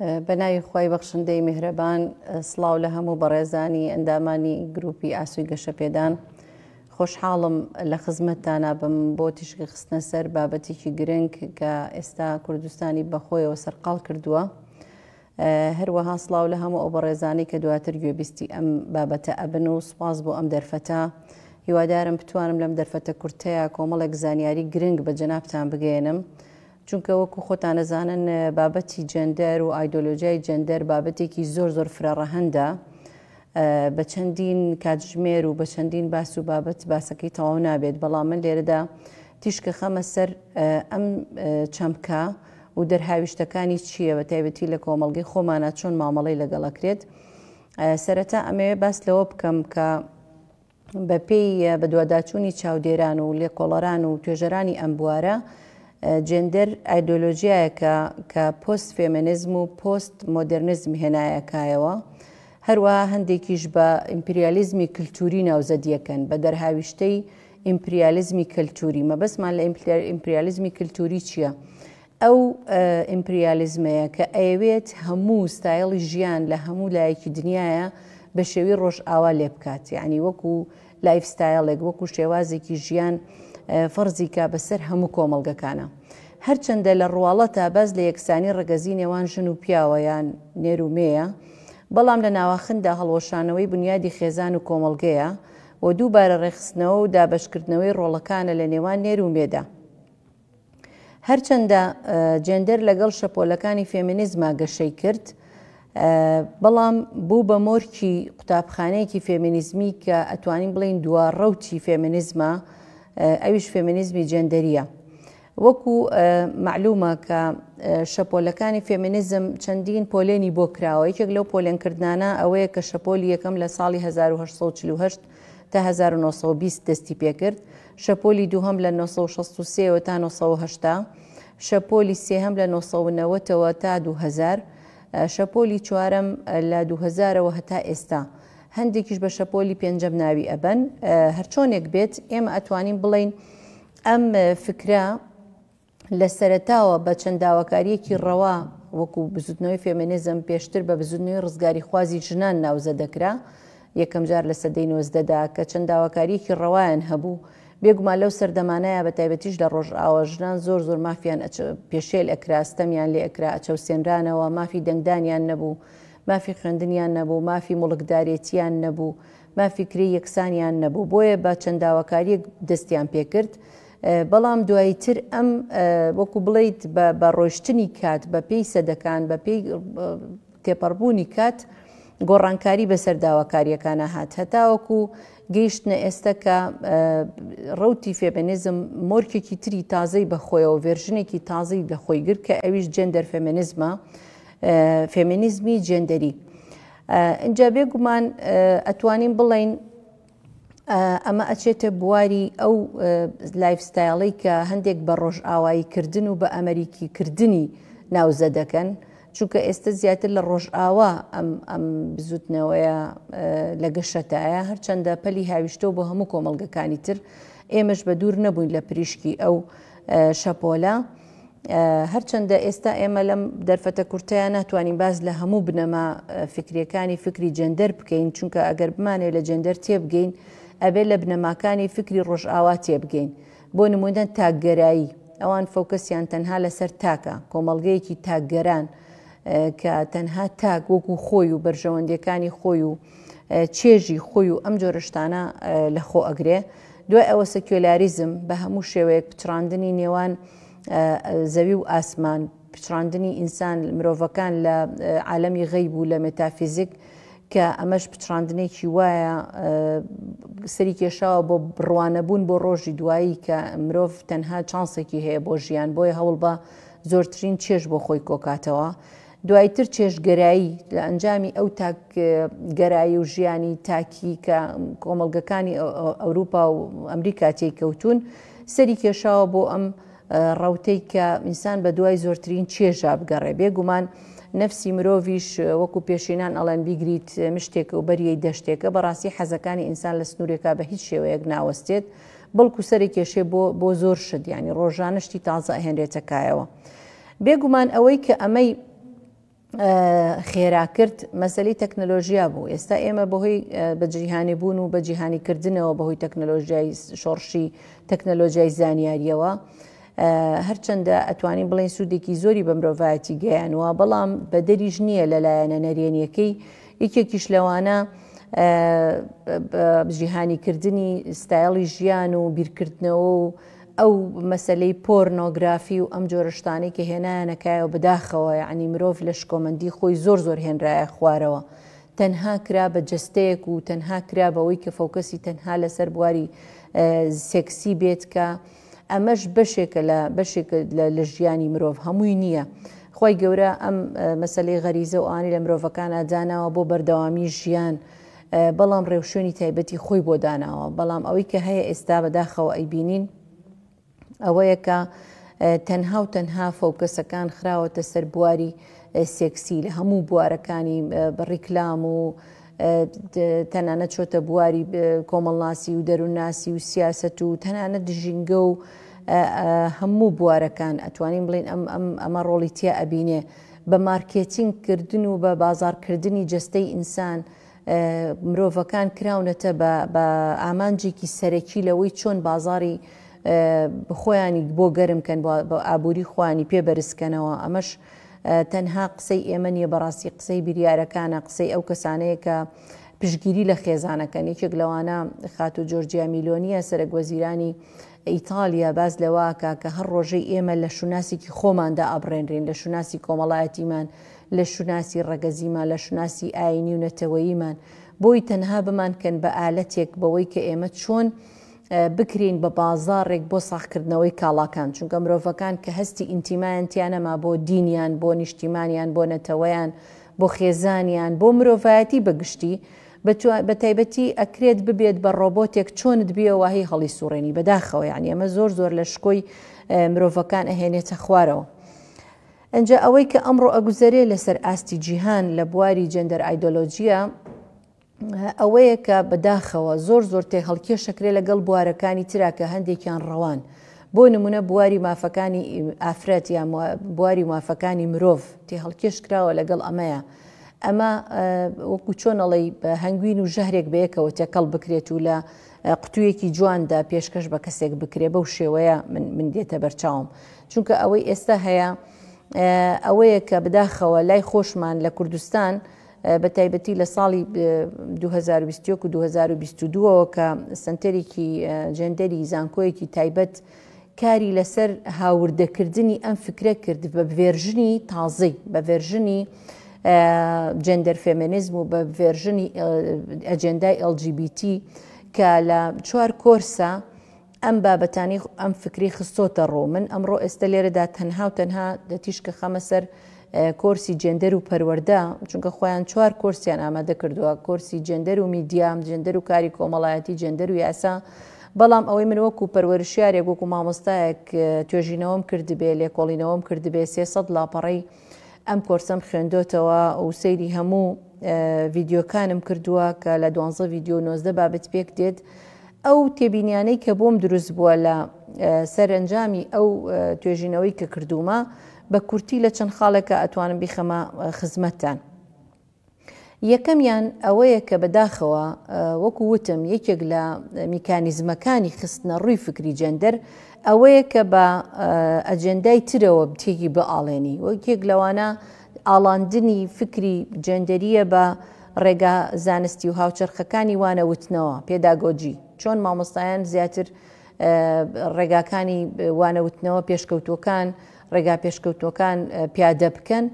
بەناوی خی بەخشندەی میهرەبان سلااو لە هەموو بەڕێزانی ئەندامانی گروپی ئاسوی گەشەپێدان خۆشحاڵم لە خزمەتتانە بم بۆ تیشکی خستنە سەر بابەتێکی گرنگ کە ئێستا کوردستانی بەخۆیەوە سەرقال کردووە هەروەها سلااو لە هەموو ئەو بەڕێزانی کە دواتر گوێبیستی ئەم بابەتە ئەبن و سپاس بۆ ئەم دەرفەتە هیوادارم بتوانم لەم دەرفەتە کورتەیە کۆمەڵێک زانیاری گرنگ بە جەنابان بگەێنم. چونکە وەکو خۆتان ئەزانن بابەتی جێندەر و ئایدۆلۆژیای جێندەر بابەتێکی زۆر زۆر فرەڕەهەندە بە چەندین کاتژمێر و بە چەندین باس و بابەت باسەکەی تەواو نابێت بەڵام من لێرەدا تیشکە خەمە سەر ئەم چەمکە و دەرهاویشتەکانی چییە بە تایبەتی لە کۆمەڵگەی خۆمانە چۆن مامەڵەی لەگەڵەکرێت سەرەتا ئەمەوێ باس لەوە بکەم کە بەپێی بەدواداچوونی چاودێران و لێکۆڵەران و توێژەرانی ئەم بوارە، جێندەر ئایدۆلۆژیایەکە کە پۆست فێمێنیزم و پۆست مۆدێرنیزم هێنایە کایەوە. هەروەها هەندێکیش بە ئیمپریالیزمی کلتووری ناوزەدیەکەن، بە دەرهاویشتەی ئیمپریالیزمی کەلتووری. مەبەستمان لە ئیمپریالیزمی کلتووری چییە؟ ئەو ئیمپریالیزمەیە کە ئەیەوێت هەموو ستایڵی ژیان لە هەموو لایەکی دنیایە بە شێوی ڕۆژئاوا لێ بکات یانی وەکو لایف ستایڵێک وەکو شێوازێکی ژیان فەرزی کا بەسەر هەموو کۆمەڵگەکانە هەرچەندە لە ڕواڵەتا باس لە یەکسانی ڕەگەزی نێوان ژن و پیاوە یان نێر و مێیە بەڵام لە ناواخندا هەڵوەشانەوەی بنیادی خێزان و کۆمەڵگەیە و دووبارە ڕێکخستنەوە و دابەشکردنەوەی ڕۆڵەکانە لە نێوان نێر و مێدا. هەرچەندە جێندەر لەگەڵ شەپۆلەکانی فێمینیزما گەشەی کرد، بەڵام بوو بە مۆرکی قوتابخانەیەکی فێمینیزمی کە ئەتوانین بڵێین دوا ڕەوتی فێمینیزمە، ئەویش فێمینیزمی جێندەرییە. وەکو مەعلومە کە شەپۆلەکانی فێمینیزم چەندین پۆلێنی بۆ کراوە، یەکێک لەو پۆلێنکردنانە ئەوەیە کە شەپۆلی یەکەم لە ساڵی هەزار و هەشت سەد و چل و هەشت تا هەزار و نۆ سەد و بیست دەستی پێکرد، شەپۆلی دووهەم لە نۆ سەد و شەست و سێ وە تا نۆ سەد و هەشتا، شەپۆلی سێهەم لە نۆ سەد و نەوەت ەوە تا دوو هەزار، شەپۆلی چوارەم لە دوو هەزار ەوە هەتا ئێستا، هەندێکیش بە شەپۆلی پێنجەم ناوی ئەبەن، هەرچۆنێک بێت ئێمە ئەتوانین بڵێین ئەم فکرە، لە سەرەتاوە بە چەند داواکارییەکی ڕەوا وەکوو بزووتنەوەی فێمێنیزم پێشتر بە بزووتنەوەی ڕزگاریخوازی ژنان ناوزە دەکرا یەکەم جار لە سەدەی نۆزدەدا کە چەند داواکارییەکی ڕەوایان هەبوو بێگومان لەو سەردەمانەیا بە تایبەتیش لە ڕۆژئاوا ژنان زۆر زۆر مافیان پێشێل ئەکرا ستەمیان لێ ئەکرا ئەچەوسێنرانەوە مافی دەنگدانیان نەبوو مافی خوێندنیان نەبوو مافی موڵکدارێتییان نەبوو مافی کرێی یەکسانیان نەبوو بۆیە بە چەند داواکارییەک دەستیان پێکرد بەڵام دوایی تر ئەم وەکو بڵێیت بە ڕۆشتنی کات بە پێی سەدەکان بە پێی تێپەڕبوونی کات گۆڕانکاری بەسەر داواکاریەکانە هات هەتاوەکو گەیشتنە ئێستا کە ڕوتی فێمێنزم مۆرکێکی تری تازەی بەخۆیەوە ڤێرژنێکی تازی لە خۆی گر کە ئەویش جێندەر فێمێنزمە فێمینیزمی جێندەری اینجا بێگومان ئەتوانین بڵین ئەمە ئەچێتە بواری ئەو لایف ستایڵی کە هەندێک بە ڕۆژئاوایی کردن و بە ئەمریکی کردنی ناوزە دەکەن چونکە ئێستا زیاتر لە ڕۆژئاوا ئەم ئەم بزوتنەوەیە لە گەشەتایە هەرچەندە پەلی هاویشتەوە بۆ هەموو کۆمەلگەکانی تر ئێمەش بە دوور نەبووین لە پریشکی ئەو شەپۆلە. هەرچەندە ئێستا ئێمە لەم دەرفەتە کورتەیا ناتوانین باس لە هەموو بنەما فیکریەکانی فیکری جێندەر بکەین، چونکە ئەگەر بمانەوێت لە جێندەر تێبگەین، ئەبێت لە بنەماکانی فیکری ڕۆژئاوا تێبگەین، بۆ نموونە تاکگەرایی، ئەوان فۆکەسیان تەنها لەسەر تاکە، کۆمەڵگەیەکی تاکگەران کە تەنها تاک وەکو خۆی و بەرژەوەندیەکانی خۆی و، چێژی خۆی و ئەم جۆرە شتانە لە خۆ ئەگرێ دوای ئەوە سکیۆلاریزم بە هەموو شێوەیەک پچڕاندنی نێوان زەوی و ئاسمان پچڕاندنی ئینسان مرۆڤەکان لە عالەمی غەیب و لە مێتافیزیک کە ئەمەش پچڕاندنێکی وایە سەری کێشاوە بۆ بڕوانەبوون بۆ ڕۆژی دوایی کە مرۆڤ تەنها چانسێکی هەیە بۆ ژیان بۆیە هەوڵ بە زۆرترین چێش بۆ خۆی کۆکاتەوە دوایتر چێژگەرایی لە ئەنجامی ئەو تاک گەرایی و ژیانی تاکی کە کۆمەڵگەکانی ئەوروپا و ئەمریکا تێی کەوتوون سەری کێشاوە بۆ ئەم ڕەوتەی کە ئینسان بە دوای زۆرترین چێژا بگەڕێ بێ گومان نەفسی مرۆڤیش وەکو پێشینان ئەڵێن بیگریت مشتێکە و بەریەی دەشتێکە بەڕاستی حەزەکانی ئینسان لە سنوورێکا بە هیچ شێوەیەک ناوەستێت بەڵکو سەرێکێشێ بۆ بۆ زۆر شت ینی ڕۆژانە شتی تازە ئەهێنرێتە کایەوە بێگومان ئەوەی کە ئەمەی خێرا کرد مەسەلی تەکنەلۆژیا بوو ئێستا ئێمە بەهۆی بەجیهانی بوون و بەجیهانی کردنەوە بەهۆی تەکنەلۆژیای شۆڕشی تەکنەلۆژیای زانیاریەوە هەرچەندە ئەتوانین بڵێن سوودێکی زۆری بە مرۆڤایەتی گەیانوە بەڵام بەدەریش نییە لە لایەنە نەرێنیەکەی یەکێکیش لەوانە جیهانی کردنی ستایڵی ژیان و بیرکردنەوە و ئەو مەسەلەی پۆرنۆ گرافی و ئەم جۆرە شتانەی کە هێنایانە کایەوە بەداخەوە یەعنی مرۆڤ لە شکۆمەندی خۆی زۆر زۆر هێنرایە خوارەوە تەنها کرا بە جەستەیەک و تەنها کرا بەوەی کە فۆکەسی تەنها لەسەر بواری سێکسی بێت کە ئەمەش بەشێکە لە بەشێک لە ژیانی مرۆڤ هەمووی نییە خوای گەورە ئەم مەسەلەی غەریزە و ئانی لە مرۆڤەکانا داناوە بۆ بەردەوامی ژیان بەڵام ڕێوشوێنی تایبەتی خۆی بۆ داناوە، بەڵام ئەوەی کە هەیە ئێستا بەداخەوە ئەیبینین ئەوەیە کە تەنها و تەنها فۆکەسەکان خراوەتە سەر بواری سێکسی لە هەموو بوارەکانی ڕیکلام و تەنانە چۆتە بواری کۆمەڵناسی و دەروونناسی و سیاست و تەنانە دژینگە و هەموو بوارەکان ئەتوانین بڵین ئەم ئەمە ڕۆڵی تیا ئەبینێ بە مارکێتینگ کردن و بە بازاڕ کردنی جەستەی ئینسان مرۆڤەکان کراونەتە بە بە ئامانجێکی سەرەکی لەوەی چۆن بازاڕی خۆیانی بۆ گەرم کەن بۆ ئابووری خوانی پێ بەرزکەنەوە ئەمەش تەنها قسەی ئێمە نیە بەڕاستی قسەی بریارەکانە قسەی ئەو کەسانەیە کە پشگیری لە خێزانەکەن یەکێک لەوانە خاتو جۆرجیا میلۆنیە سەرەک وەزیرانی ئیتالیا باس لەوەکا کە هەر ڕۆژەی ئێمە لە شوناسێکی خۆماندا ئەبڕێنرێن، لە شوناسی کۆمەڵایەتیمان، لە شوناسی ڕەگەزیمان، لە شوناسی ئایینی و نەتەوەییمان، بۆی تەنها بمانکەن بە ئالەتێک بەوەی کە ئێمە چۆن بکرێین بە بازاڕێک بۆ ساغکردنەوەی کاڵاکان، چونکە مرۆڤەکان کە هەستی ئینتیمایان تیا نەما بۆ دینیان، بۆ نیشتیمانیان، بۆ نەتەوەیان، بۆ خێزانیان، بۆ مرۆڤایەتی بە گشتی، بەتایبەتی ئەکرێت ببێت بە ڕۆبۆتێک چۆنت بیەوە واهی هەڵیسوڕێنی بەداخەوە یانی ئەمە زۆر زۆر لە شکۆی مرۆڤەکان ئەهێنێتە خوارەوە ئەجا ئەوەی کە ئەمڕۆ ئەگوزەرێ لەسەر ئاستی جیهان لە بواری جەندەر ئایدۆلۆژیە ئەوەیە کە بەداخەوە زۆر زۆر تێ هەڵکێشەکرێ لەگەڵ بوارەکانی ترا کە هەندێکیان ڕەوان بۆ نمونە بواری مافەکانی ئافرەت یا بواری مافەکانی مرۆڤ تێ هەڵکێش کراوە لەگەڵ ئەمەیە ئەمە وەکو چۆن ئەڵێی هەنگوین و ژەهرێک بەیەکەوە تێکەڵ بکرێت و لە قوتوویەکی جواندا پێشکەش بە کەسێک بکرێ بەو شێوەیە من دێتە بەرچاوم چونکە ئەوەی ئێستا هەیە ئەوەیە کە بداخەوە لای خۆشمان لە کوردستان بە تایبەتی لە ساڵی 2021 و 2022ەوە کە سنتەرێکی جێندەری زانکۆیەکی تایبەت کاری لەسەر هاوردەکردنی ئەم فکرە کرد بە ڤێرژنی تازەی، بە ڤێرژنی جێندەر فێمێنیزم و بە ڤێرژنی ئەجێندای LGBT کە لە چوار کۆرسە ئەم بابەتانی ئەم فکری خستۆتە ڕوو. من ئەمڕۆ ئێستە لێرەدا تەنها و تەنها تیشکەخەمە سەر کۆرسی جێندەر و پەروەردە، چونکە خۆیان چوار کۆرسیان ئامادە کردووە، کۆرسی جێندەر و میدیا، جێندەر و کاری کۆمەڵایەتی، جێندەر و یاسا، بەڵام ئەوەی من وەکو پەروەرشیارێک وەکو مامۆستایەک توێژینەوەم کردبێ لێکۆڵینەوەم کردبێ سێ سەد لاپەڕەی ئەم کۆرسەم خوێندۆتەوە و سەیری هەموو ڤیدیۆکانم کردووە کە لە دوانزە ڤیدیۆ و نۆزدە بابەت پێک دێت ئەو تێبینیانەی کە بۆم دروست بووە لە سەرەنجامی ئەو توێژینەوەی کە کردوومە بە کورتی لە چەند خاڵێکا ئەتوانم بیخەمە خزمەتتان. یەکەمیان ئەوەیە کە بە داخەوە وەکو وتم یەکێک لە میکانیزمەکانی خستنە ڕووی فکری جێندەر ئەوەیە کە بە ئەجێندای ترەوە بتێکی بئاڵێنی و یەکێک لەوانە ئاڵاندنی فکری جێندەریە بە ڕێگا زانستی و هاوچەرخەکانی وانەوتنەوە، پێداگۆجی، چۆن مامۆستایان زیاتر ڕێگاکانی وانەوتنەوە پێشکەوتووەکان، ڕێگا پێشکەوتووەکان پیادە بکەن،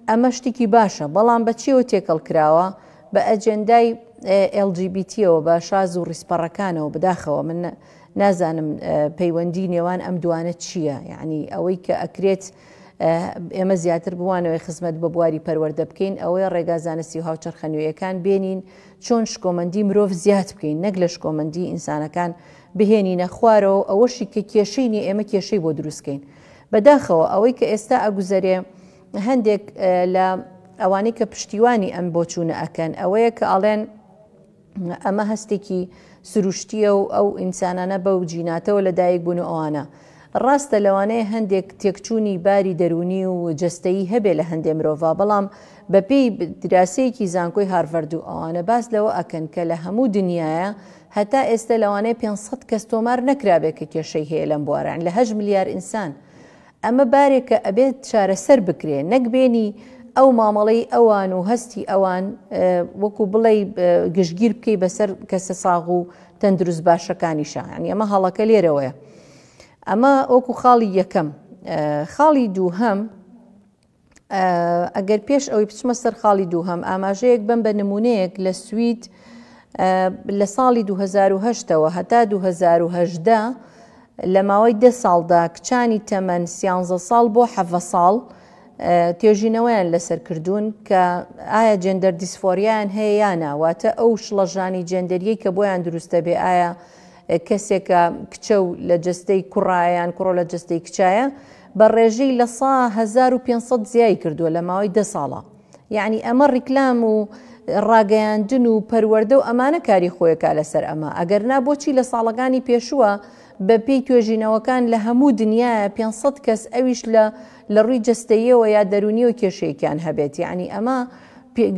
ئەمە شتێکی باشە، بەڵام بە چیەوە تێکەڵ کراوە؟ بە ئەجێندای LGBT ەوە، بە شاز و ڕیزپەڕەکانەوە، بەداخەوە من نازانم پەیوەندی نێوان ئەم دوانە چییە، یەعنی ئەوەی کە ئەکرێت ئێمە زیاتر بمانەوەی خزمەت بە بواری پەروەردە بکەین ئەوەیە ڕێگا زانستی و هاوچەرخە نوێیەکان بێنین چۆن شکۆمەندی مرۆڤ زیاد بکەین نەک لە شکۆمەندی ئینسانەکان بهێنینە خوارەوەو ئەوەشی کە کێشەی نیە ئێمە کێشەی بۆ دروست کەین بەداخەوە ئەوەی کە ئێستا ئەگوزەرێ هەندێک لە ئەوانەی کە پشتیوانی ئەم بۆچونە ئەکەن ئەوەیە کە ئەڵێن ئەمە هەستێکی سروشتیە و ئەو ئینسانانە بەو جیناتەوە لە دایک بوون و ئەوانە ڕاستە لەوانەیە هەندێک تێکچوونی باری دەرونی و جەستەیی هەبێ لە هەندێ مرۆڤ بەڵام بەپێی دراسەیەکی زانکۆی هارڤەردو ئەوانە باس لەوە ئەکەن کە لە هەموو دنیاە هەتا ئێستە لەوانەیە پێنج سەد کەس تۆمار نەکرابێت کە کێشەی هەیە لەم بوارە یانی لە هەشت ملیار ئینسان ئەمە بارێکە ئەبێت چارەسەر بکرێت نەک بێنی ئەو مامەڵەی ئەوان و هەستی ئەوان وەکو بڵێی گشتگیر بکەی بەسەر کەسە ساغ و تەندروست باشەکانی شە یانی ئەمە هەڵەکە لێرەوەیە ئەمە وەکو خاڵی یەکەم خاڵی دووهەم ئەگەر پێش ئەوی بچمە سەر خاڵی دووهەم ئاماژەیەک بم بە نمونەیەک لە سوید لە ساڵی 2010ەوە هەتا 2010 لە ماوەی ده ساڵدا کچانی تەمەن سیانزە ساڵ بۆ حەڤە ساڵ توێژینەوەیان لەسەر کردوون کە ئایا جێندەر دیسفۆریان هەیە یانە واتە ئەو شڵەژانی جێندەریەی کە بۆیان دروستە بێ ئایا کەسێکە کچە و لە جستەی کوڕایان کوڕۆ لە جستەی کچایە بە ڕێژەی لە سە هەزار و پێنج سەد زیای کردووە لە ماوەی دە ساڵا یەعنی ئەمە ڕیکلام و ڕاگەیاندن و پەروەردە و ئەمانە کاری خۆیەکا لەسەر ئەمە ئەگەر نا بۆچی لە ساڵەکانی پێشووە بە پێی توێژینەوەکان لە هەموو دنیایە پێنج سەد کەس ئەویش لە لە ڕووی جەستەییەوە یا دەروونیەوە کێشەیەکیان هەبێت یەعنی ئەمە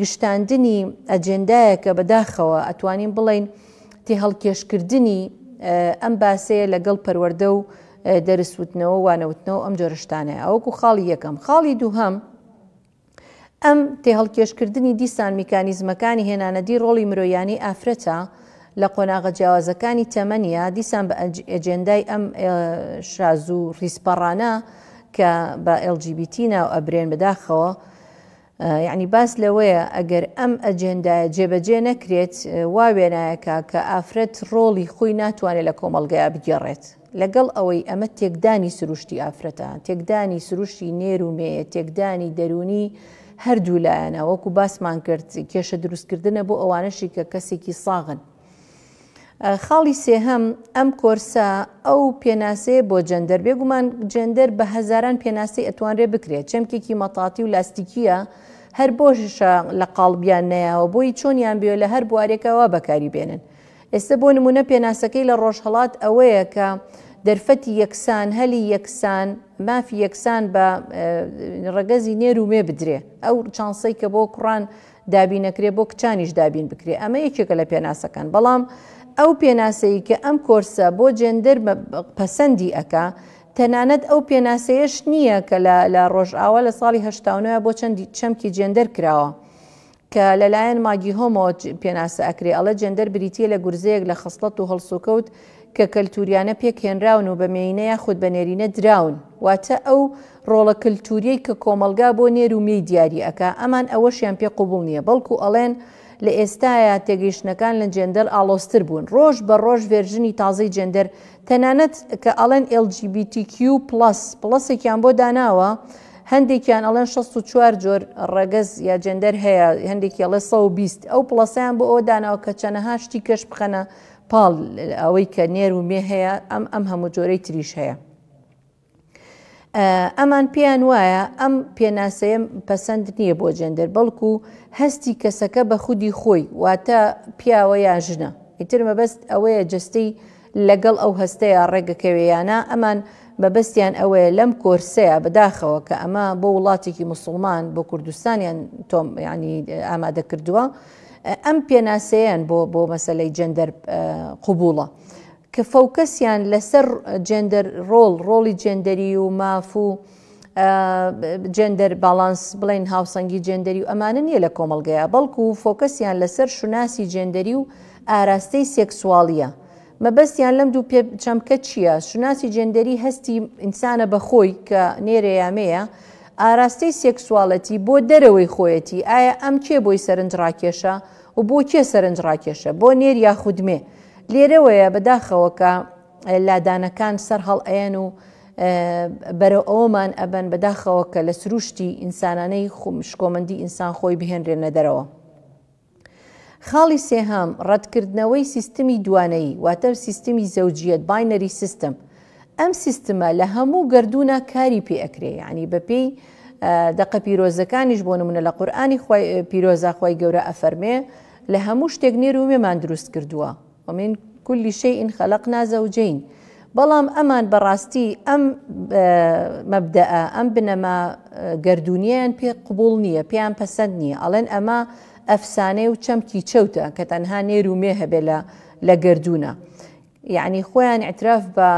گشتاندنی ئەجێندایەکە بەداخەوە ئەتوانین بڵێین تێهەڵکێشکردنی ئەم باسەیە لەگەڵ پەروەردە و دەرس وتنەوە و وانەوتنەوە و ئەم جۆرە شتانەیە ئەوەکو خاڵی یەکەم خاڵی دووهەم ئەم تێهەڵکێشکردنی دیسان میکانیزمەکانی هێنانەدی ڕۆڵی مرۆیانی ئافرەتە لە قۆناغە جیاوازەکانی تەمەنیا دیسان بە ئەجێندای ئەم شازوو ڕیسپەڕانە کە بە LGBT ناو ئەبرێن بەداخەوە یەعنی باس لەوەیە ئەگەر ئەم ئەجێندایە جێبەجێ نەکرێت وا وێنایەکە کە ئافرەت ڕۆڵی خۆی ناتوانێت لە کۆمەڵگەیا بگێڕێت. لەگەڵ ئەوەی ئەمە تێکدانی سروشتی ئافرەتە، تێکدانی سروشتی نێر و مێیە، تێکدانی دەروونی هەردوو لایەنە، وەکو باسمان کرد کێشە دروستکردنە بۆ ئەوانەشی کە کەسێکی ساغن. خاڵی سێهەم، ئەم کۆرسە ئەو پێناسەیە بۆ جەندەر، بێگومان جەندەر بە هەزاران پێناسەی ئەتوانرێ بکرێت، چەمکێکی مەتاتی و لاستیکییە، هەر بۆشە لە قاڵبیان نەیاوە، بۆیی چۆنیان بوێ لە هەر بوارێکا وا بەکاری بێنن. ئێستە بۆ نموونە پێناسەکەی لە ڕۆژهەڵات ئەوەیە کە دەرفەتی یەکسان، هەلی یەکسان، مافی یەکسان بە ڕەگەزی نێر و مێ بدرێ، ئەو چانسەی کە بۆ کوڕان دابین نەکرێ بۆ کچانیش دابین بکرێ ئەمە یەکێکە لە پێناسەکان بەڵام ئەو پێناسەی کە ئەم کۆرسە بۆ جێندەر پەسەندی ئەکا تەنانەت ئەو پێناسەیەش نییە کە لە ڕۆژئاوا لە ساڵی هەشتا و نۆیە بۆ چەندی چەمکی جێندەر کراوە کە لەلایەن ماگی هۆمۆ پێناسە ئەکرێ ئەڵە جێندەر بریتییە لە گورزەیەک لە خەسڵەت و هەڵسوکەوت کە کەلتوریانە پێک هێنراون و بە مێینە یاخود بە نێرینە دراون، واتە ئەو ڕۆڵە کەلتوریەی کە کۆمەڵگا بۆ نێر و مێی دیاری ئەکا، ئەمان ئەوەشیان پێ قوبوڵ نیە، بەڵکو ئەڵێن لە ئێستایا تێگەیشتنەکان لە جێندەر ئاڵۆزتر بوون، ڕۆژ بە ڕۆژ ڤێرژنی تازەی جێندەر تەنانەت کە ئەڵێن LGBTQ پڵەس، پڵەسێکیان بۆ داناوە، هەندێکیان ئەڵێن شەست و چوار جۆر ڕەگەز یا جێندەر هەیە، هەندێکی ئەڵێ سەد و بیست، ئەو پڵەسەیان بۆ ئەوە داناوە کە چەنەها شتی کەش بخەنە پاڵ ئەوەی کە نێر و مێ هەیە ئەم ئەم هەموو جۆرەی تریش هەیە. ئەمان پێیان وایە ئەم پێناسەیە پەسەند نییە بۆ جێندەر بەڵکو هەستی کەسەکە بە خودی خۆی واتە پیاوە یا ژنە ئیتر مەبەست ئەوەیە جستەی لەگەڵ ئەو هەستەیە ڕێگەکەوێیانە ئەمان مەبەستیان ئەوەیە لەم کۆرسەیە بەداخەوە کە ئەمە بۆ وڵاتێکی مسلمان بۆ کوردستانیان تۆم ینی ئامادە کردووە ئەم پێناسەیەن بۆ بۆ مەسەلەی جێندەر قوبوڵە کە فەوکەسیان لەسەر جێندەر ڕۆڵ ڕۆڵی جێندەری و ماف و جێندەر باڵانس بڵین هاوسەنگی جێندەری و ئەمانە نییە لە کۆمەلگەیە بەڵکو و فۆکەسیان لەسەر شوناسی جێندەری و ئاراستەی سێکسوالیە مەبەستیان لەم دوو پێ چەمکە چییە؟ شوناسی جێندەری هەستی ئینسانە بە خۆی کە نێرە یا مێیە، ئاراستەی سێکسواڵێتی بۆ دەرەوەی خۆیەتی، ئایا ئەم کێ بۆی سەرنجڕاکێشە و بۆ کێ سەرنجڕاکێشە، بۆ نێر یاخود مێ؟ لێرەوەیە بەداخەوە کە لادانەکان سەرهەڵئەیەن و بەرەو ئەوەمان ئەبەن بەداخەوە کە لە سرووشتی ئینسانانەی شکۆمەندی ئینسان خۆی بهێنرێنە دەرەوە. خاڵی سێهەم، ڕەتکردنەوەی سیستمی دوانەیی، واتە سیستمی زەوجیەت، Binary System، ئەم سیستمە لە هەموو گەردوونا کاری پێ ئەکرێ یانی بە پێی دەقە پیرۆزەکانیش بۆ نمونە لە قورئانی خوای پیرۆزا خوای گەورە ئەفەرمێ لە هەموو شتێک نێر و مێمان دروست کردووە، ومن کل شیء خلقنا زوجین بەڵام ئەمان بەڕاستی ئەم مەبدەئ ئەم بنەما گەردوونیەیان پێ قبوڵ نیە پێیان پەسەند نیە ئەڵێن ئەمە ئەفسانەیە و چەمکی چەوتە کە تەنها نێر و مێ هەبێ لە لە گەردوونە یەعنی خۆیان ئیعتراف بە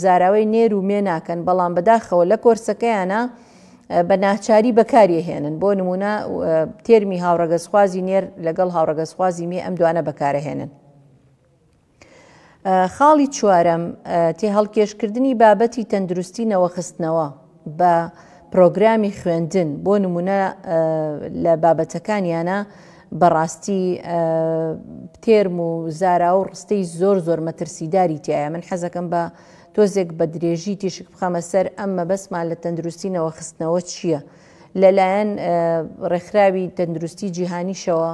زاراوەی نێر و مێ ناکەن بەڵام بەداخەوە لە کۆرسەکەیانا بە ناچاری بەکاریهێنن بۆ نمونە تێرمی هاوڕەگەزخوازی نێر لەگەڵ هاوڕەگەزخوازی مێ ئەم دوانە بەکارەهێنن خاڵی چوارەم تێ هەڵکێشکردنی بابەتی تەندروستی نەوەخستنەوە بە پرۆگرامی خوێندن بۆ نمونە لە بابەتەکانیانە بەڕاستی تێرم و زارا و ڕستەی زۆر زۆر مەترسیداری تایە من حەزەکەم بە تۆزێک بە درێژی تیشک بخەمە سەر ئەم مەبەستمان لە تەندروستی نەوەخستنەوە چییە؟ لەلایەن ڕێکخراوی تەندروستی جیهانیشەوە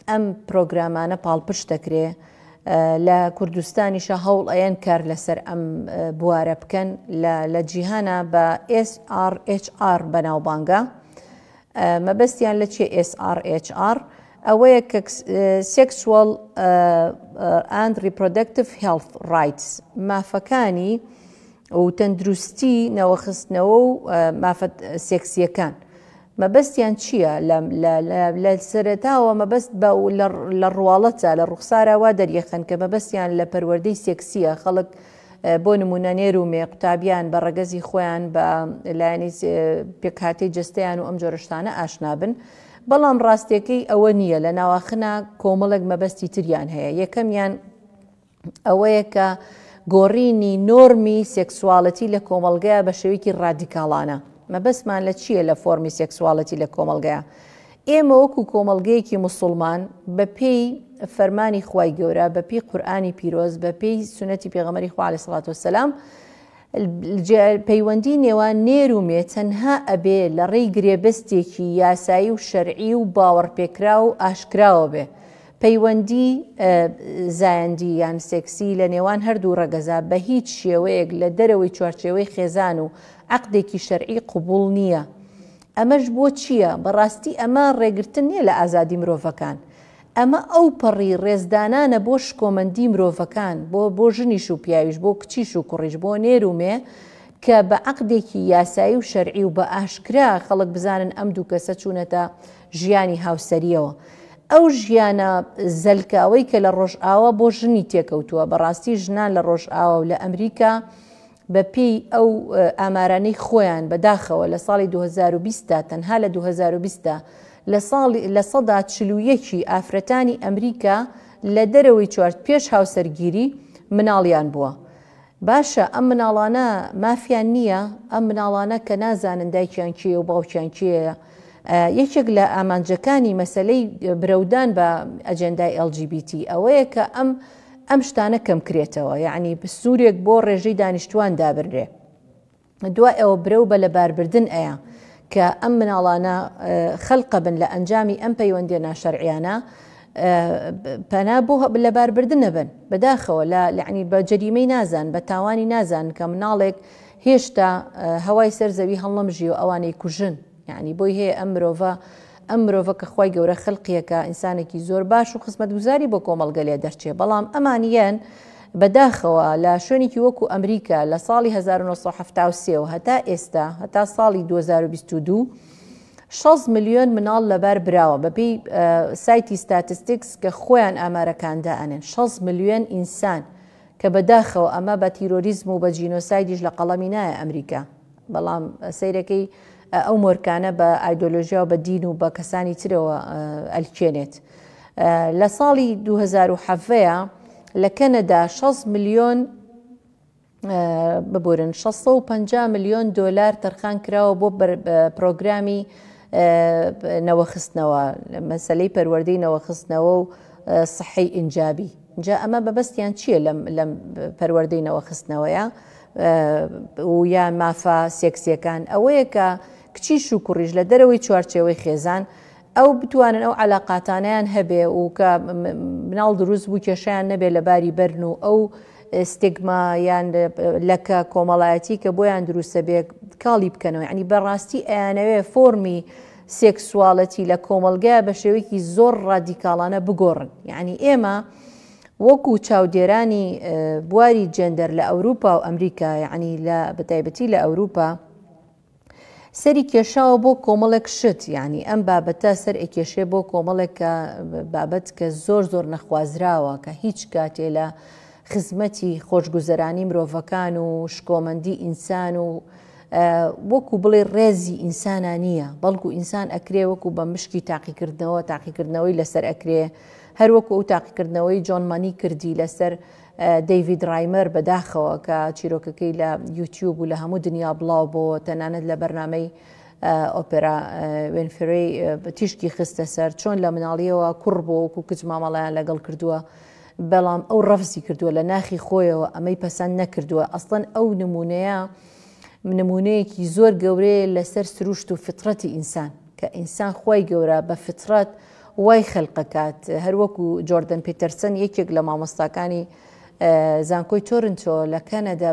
ئەم پرۆگرامانە پاڵپشت دەکرێ لە کوردستانیشە هەوڵ ئەیەن کار لەسەر ئەم بوارە بکەن لە جیهانە بە SRHR بەناوبانگە مەبەستیان لە چیە ئێس ئاڕ ئێچ ئاڕ ئەوەیە کە سێکسوەڵ ئاند ڕیپرۆدەکتڤ هێڵث ڕایتس مافەکانی و تەندروستی نەوەخستنەوە و مافە سێکسیەکان مەبەستیان چییە لە سەرەتاوە مەبەست بە لە ڕواڵەتە لە ڕوخساراوا دەریەخەن کە مەبەستیان لە پەروەردەی سێکسیە خەڵک بۆ نموونە نێر و مێ، قوتابیان بە ڕەگەزی خۆیان، بە لایەنی پێکهاتەی جەستەیان و ئەم جۆرە شتانە ئاشنا بن. بەڵام ڕاستییەکەی ئەوە نییە، لە ناواخنا کۆمەڵێک مەبەستی تریان هەیە، یەکەمیان ئەوەیە کە گۆڕینی نۆرمی سێکسواڵێتی لە کۆمەڵگەیە بە شێوەیەکی ڕادیکاڵانە. مەبەستمان لە چییە لە فۆرمی سێکسواڵێتی لە کۆمەڵگەیە؟ ئێمە وەکو کۆمەڵگەیەکی موسوڵمان بە پێی فەرمانی خوای گەورە بە پێی قورئانی پیرۆز بە پێی سونەتی پێغەمبەری خوا علیە سڵات وسلام پەیوەندی نێوان نێر و مێ تەنها ئەبێ لە ڕێی گرێبەستێکی یاسایی و شەرعی و باوەڕپێکرا و ئاشکراوە بێ پەیوەندی زایەندی یان سێکسی لە نێوان هەردوو ڕەگەزا بە هیچ شێوەیەک لە دەرەوەی چوارچێوەی خێزان و عقدێکی شەرعی قوبول نییە ئەمەش بۆ چییە؟ بەڕاستی ئەمە ڕێگرتن نییە لە ئازادی مرۆڤەکان. ئەمە ئەوپەڕی ڕێزدانانە بۆ شکۆمەندی مرۆڤەکان، بۆ بۆ ژنیش و پیاویش، بۆ کچیش و کوڕیش، بۆ نێر و مێ، کە بە عەقدێکی یاسایی و شەرعی و بە ئاشکرا خەڵک بزانن ئەم دوو کەسە چوونەتە ژیانی هاوسەرییەوە. ئەو ژیانە زەلکاوەی کە لە ڕۆژئاوا بۆ ژنی تێکەوتووە، بەڕاستی ژنان لە ڕۆژئاوا و لە ئەمریکا، بەپێی ئەو ئامارانەی خۆیان بەداخەوە لە ساڵی دوو هەزار و بیست دا تەنها لە دوو هەزار و بیست دا لە ساڵ لە سەدا چل و یەک ی ئافرەتانی ئەمریکا لە دەرەوەی چوار پێش هاوسەرگیری مناڵیان بووە باشە ئەم مناڵانە مافیان نییە ئەم مناڵانە کە نازانن دایکیان کێیە و باوکیان کێیە یەکێک لە ئامانجەکانی مەسەلەی برەودان بە ئەجێندای ئێڵ جی بی تی ئەوەیە کە ئەم ئەم شتانە کەمکرێتەوە یەعنی سورێک بۆ ڕێژەی دانیشتوان دابنرێ دوای ئەوە برەو بە لەباربردن ئەیە کە ئەم مناڵانە خەلقەبن لە ئەنجامی ئەم پەیوەندیە ناشەرعیانە پەنا بۆ لەباربردن نەبن بەداخەوە لە لەعنی بە جەریمەی نازان بە تاوانی نازان کە مناڵێک هێشتا هەوای سەر زەوی هەڵنەمژی و ئەوانەی کوژن یەعنی بۆی هەیە ئەم مرۆڤە ئەم مرۆڤە کە خوای گەورە خەلقیەکە ئینسانێکی زۆر باش و خزمەتگوزاری بۆ کۆمەڵگە لێ دەرچێ بەڵام ئەمان یەن بەداخەوە لە شوێنێکی وەکو ئەمریکا لە ساڵی 1970 و هەتا ئێستا هەتا ساڵی 2022 6 ملیۆن مناڵ لەبار براوە بەپی سایتی ستاتستیکس کە خۆیان ئامارەکاندا ئەنێن 6 ملیۆن ئینسان کە بەداخەوە ئەمە بە تیرۆریزم و بە جینۆسایدیش لە قەڵەمی نایە ئەمریکا بەڵام سەیرەکەی ئەو مۆرکانە بە ئایدۆلۆژیا و بە دین و بە کەسانی ترەوە ئەلکێنێت. لە ساڵی دوو هەزار و حەڤە لە کەنەدا شەست ملیۆن ببورن شەست سەد و پەنجا ملیۆن دۆلار تەرخان کراوە بۆ پرۆگرامی نەوەخستنەوە، مەسەلەی پەروەردەی نەوەخستنەوە و سەحەی ئینجابی. جا ئەمە بەبەستیان چیە لەم لەم پەروەردەی نەوە خستنەوەیە و یا مافە سێکسیەکان ئەوەیە کە کچیش و کوڕیش لە دەرەوەی چوارچێوەی خێزان ئەو بتوانن ئەو علااقاتانیان هەبێ و کە مناڵ دروست بوو کێشیان نەبێ لە باری بەرن و ئەو ستگما یان لەکە کۆمەڵایەتی کە بۆیان دروستە بێ کاڵی بکەنەوە ینی بەڕاستی ئەیانەوێ فۆرمی سێکسواڵێتی لە کۆمەڵگەیا بە شێوەیەکی زۆر ڕادیکاڵانە بگۆڕن. یەعنی ئێمە وەکوو چاودێرانی بواری جێندەر لە ئەوروپا و ئەمریکا، یەعنی لە بە تایبەتی لە ئەوروپا، سەری کێشاوە بۆ کۆمەڵێک شت، یەعنی ئەم بابەتە سەر ئەکێشێ بۆ کۆمەڵێک کە بابەت کە زۆر زۆر نەخوازراوە، کە هیچ کاتێ لە خزمەتی خۆشگوزەرانی مرۆڤەکان و شکۆمەندی ئینسان و وەکو بڵێ ڕێزی ئینسانا نییە بەڵکو ئینسان ئەکرێ وەکو بە مشکی تاقیکردنەوە تاقیکردنەوەی لەسەر ئەکرێ هەروەکو ئەو تاقیکردنەوەی جۆن مانی کردی لەسەر دەیڤید ڕایمەر بەداخەوە کە چیرۆکەکەی لە یوتیوب و لە هەموو دنیا بڵاو بۆ تەنانەت لە بەرنمەی ئۆپێرا وێنفرەی تیشکی خستە سەر چۆن لە مناڵیەوە کوڕ بۆ وەکو کچ مامەڵیان لەگەڵ کردووە بەڵام ئەو ڕەفزی کردووە لە ناخی خۆیەوە ئەمەی پەسەند نەکردووە، ئەسڵەن ئەو نموونەیە نموونەیەکی زۆر گەورەیە لەسەر سروشت و فیتڕەتی ئینسان، کە ئینسان خوای گەورە بە فیتڕەت وای خەلقەکات، هەروەکو جۆردن پیتەرسن یەکێک لە مامۆستاکانی زانکۆی تۆرنتۆ لە کەنەدا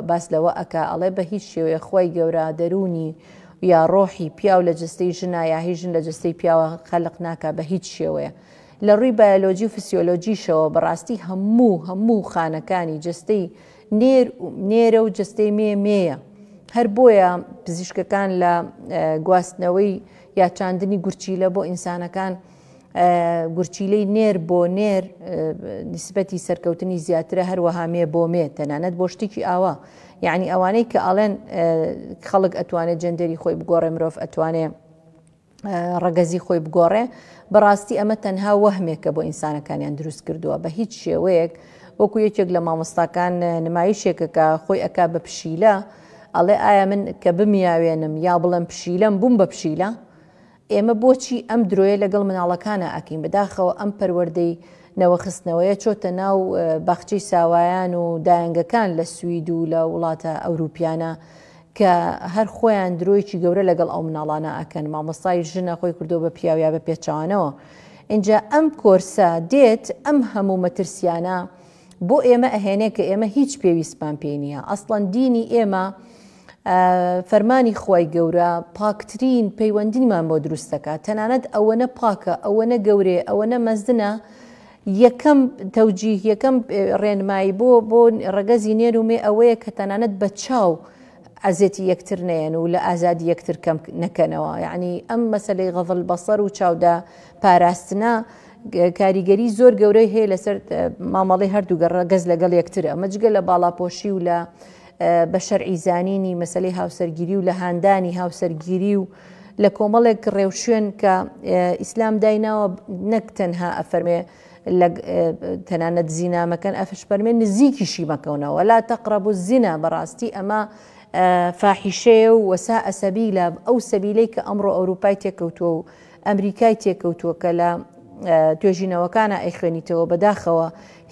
باس لەوە ئەکا ئەڵێ بە هیچ شێوەیەک خوای گەورە دەروونی یا ڕۆحی پیاو لە جەستەی ژنا یا هی ژن لە جەستەی پیاوە خەلق ناکا بە هیچ شێوەیە لە ڕووی بایۆلۆجی و فسیۆلۆجیشەوە بەڕاستی هەموو هەموو خانەکانی جەستەی نێر نێرە و جەستەی مێ مێیە هەر بۆیە پزیشکەکان لە گواستنەوەی یا چاندنی گورچیلە بۆ ئینسانەکان گورچیلەی نێر بۆ نێر نسبەتی سەرکەوتنی زیاترە هەروەها مێ بۆ مێ تەنانەت بۆ شتێکی ئاوا یعنی ئەوانەی کە ئەڵێن خەڵک ئەتوانێت جندەری خۆی بگۆڕێ مرۆڤ ئەتوانێ ڕەگەزی خۆی بگۆڕێ، بەڕاستی ئەمە تەنها وەهمێکە بۆ ئینسانەکانیان دروست کردووە، بە هیچ شێوەیەک وەکو یەکێک لە مامۆستاکان نمایشێکە کە خۆی ئەکا بە پشیلە، ئەڵێ ئایا من کە بمیاوێنم یا بڵێم پشیلەم بووم بە پشیلە؟ ئێمە بۆچی ئەم درۆیە لەگەڵ مناڵەکانا ئەکەین، بەداخەوە ئەم پەروەردەی نەوەخستنەوەیە چۆتە ناو باخچەی ساوایان و دایەنگەکان لە سوید و لە وڵاتە ئەوروپیانە کە هەر خۆیان درۆیەکی گەورە لەگەڵ ئەو مناڵانە ئەکەن مامۆستای ژنە خۆی کردوە بە پیاو یا بە پێچەوانەوە ئینجا ئەم کۆرسە دێت ئەم هەموو مەترسیانە بۆ ئێمە ئەهێنێ کە ئێمە هیچ پێویستمان پێی نییە ئەسڵەن دینی ئێمە فەرمانی خوای گەورە پاکترین پەیوەندیمان بۆ دروستەکە تەنانەت ئەوەنە پاکە ئەوەنە گەورێ ئەوەنە مەزنە یەکەم تەوجیه، یەکەم ڕێنمایی بۆ بۆ ڕەگەزی نێر و مێ ئەوەیە کە تەنانەت بە چاو ئەزێتی یەکتر نەیەن و لە ئازادی یەکتر کەم نەکەنەوە. یەعنی ئەم مەسەلەی غەض البصر و چاودە پاراستنە کاریگەری زۆر گەورەی هەیە لەسەر مامەڵەی هەردوو ڕەگەز لەگەڵ یەکتر. ئەمە جگە لە باڵاپۆشی و لە بە شەرعی زانینی مەسەلەی هاوسەرگیری و لە هاندانی هاوسەرگیری و لە کۆمەڵێک ڕێوشوێن کە ئیسلام دایناوە نەک تەنها ئەفەرمێ تەنانەت زینا مەکەن ئەفشپەرمێ نزیکیشی مەکەونەوە لا تەقرب و زینا بەڕاستی ئەمە فاحیشەیە و وەسا ئەسەبیلا ئەو سەبیلەی کە ئەمڕۆ ئەوروپای تێکەوتووە و ئەمریکای تێکەوتووە کە لە توێژینەوەکانە ئەی خوێنیتەوە بەداخەوە